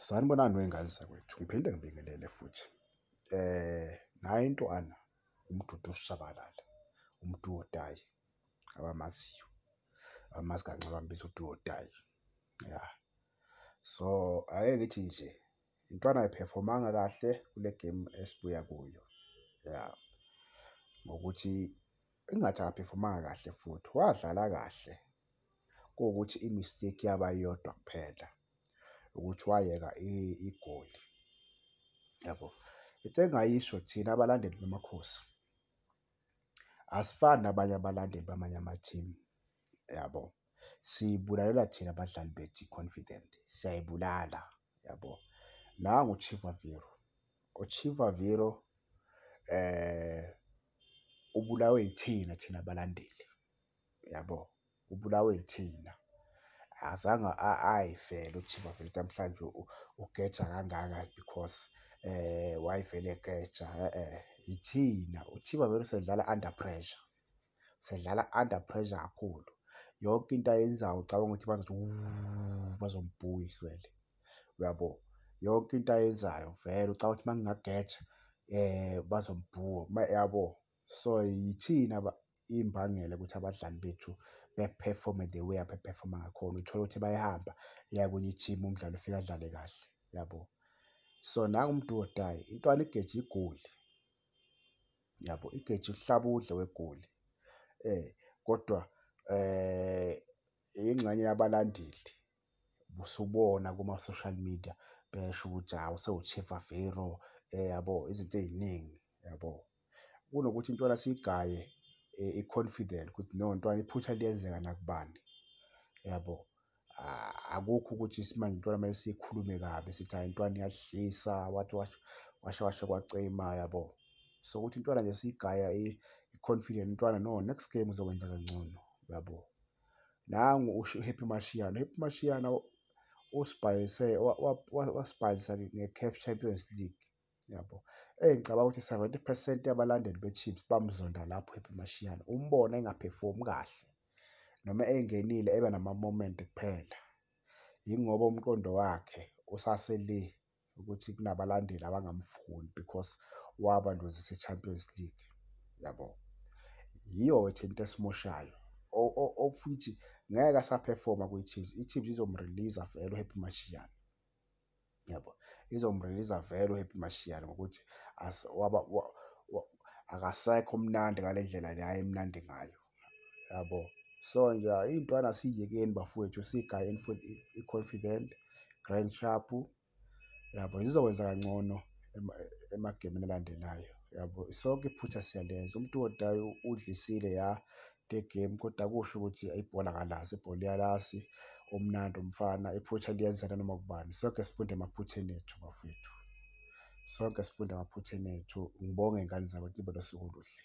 Sanibonani wey'ngane zakwethu, ngiphinde ngibingelele futhi nayi intwana uMdudu uShabalala uMdu wotayi abamaziyo abamazi kancane bambiza uMdu wotayi ya. So ake ngithi nje intwana ayiphefomanga kahle kule game esibuya kuyo ya ngokuthi Engathi akaphefumanga kahle futhi wadlala kahle kuwukuthi i-mistake yaba yodwa kuphela ukuthi wayeka igoli yabo. Into engayisho thina abalandeli baMakhosi asifani nabanye abalandeli bamanye amathimu yabo. Siyibulalela thina badlali bethu i-confident siyayibulala yabo. Nangu uChivaviro, uChivaviro . ubulawe yithina thina balandeli yabo, ubulawe yithina. Akazange ayifele uChiva vele ukuthi namhlanje ugeja kangaka because wayevele egeja yithina. UChiva vele usedlala under pressure, usedlala under pressure kakhulu. Yonke into ayenzayo ucabanga ukuthi bazothi wu, bazombhuwa ihlwele. uyabo yonke into ayenzayo vele ucabanga ukuthi mangingageja eh bazombhuwa yabo so yithina imbangela ukuthi abadlali bethu beperforme the way abeperforma ngakhona uthole ukuthi bayahamba iya kwenye i-team umdlali ufika adlale kahle yabo so nangu umuntu wodayi intwana igeja igoli yabo igeja uhlaba udle wegoli eh kodwa eh ingxenye yabalandeli usubona kuma-social media besho ukuthi hawu sewuchief avero eh, yabo izinto ey'ningi yabo kunokuthi intwana siyigaye eh, i-confident ukuthi no ntwana iphutha liyenzeka nakubani yabo akukho ukuthi simanje intwana kumele siyikhulume kabi sithi hayi intwana iyadlisa wathi washo washo kwacima yabo so ukuthi intwana nje siyigaya i-confident intwana no next game uzokwenza kangcono yabo nangu usho uHappy Mashiane. UHappy Mashiane usibhayise wasibhayisa nge-CAF Champions League yabo. Eyi ngicabanga ukuthi seventy percent yabalandeli be-Chiefs bamzonda lapho uHappy Mashiane. Umbona engaphefumi kahle noma engenile ebe nama-moment kuphela yingoba umqondo wakhe usase le. ukuthi kunabalandeli abangamfuni because wabalozisa i-champions league yabo yiyo wethe into esimoshayo ofuthi ngeke asaphefoma kwi-chiefs i-chiefs izomreleasa vele uhappy mashiyane yabo izomreleasa vele uhappy mashiyane ngokuthi akasekho mnandi ngale ndlela le ayemnandi ngayo yabo so nje iy'ntwana siyekeni bafowethu sigayeni for i-confident grand sharp yabo zizokwenza kangcono emagemini alandelayo yabo sonke iphutha siyalenza umuntu odayo udlisile ya the game kodwa kusho ukuthi ibhola kalazi ibhola iyalazi umnandi umfana iphutha liyenzeka noma kubani sonke sifunde emaphutheni ethu bafowethu sonke sifunde emaphutheni ethu ngibonge ngane zabantu nibe nosuku oluhle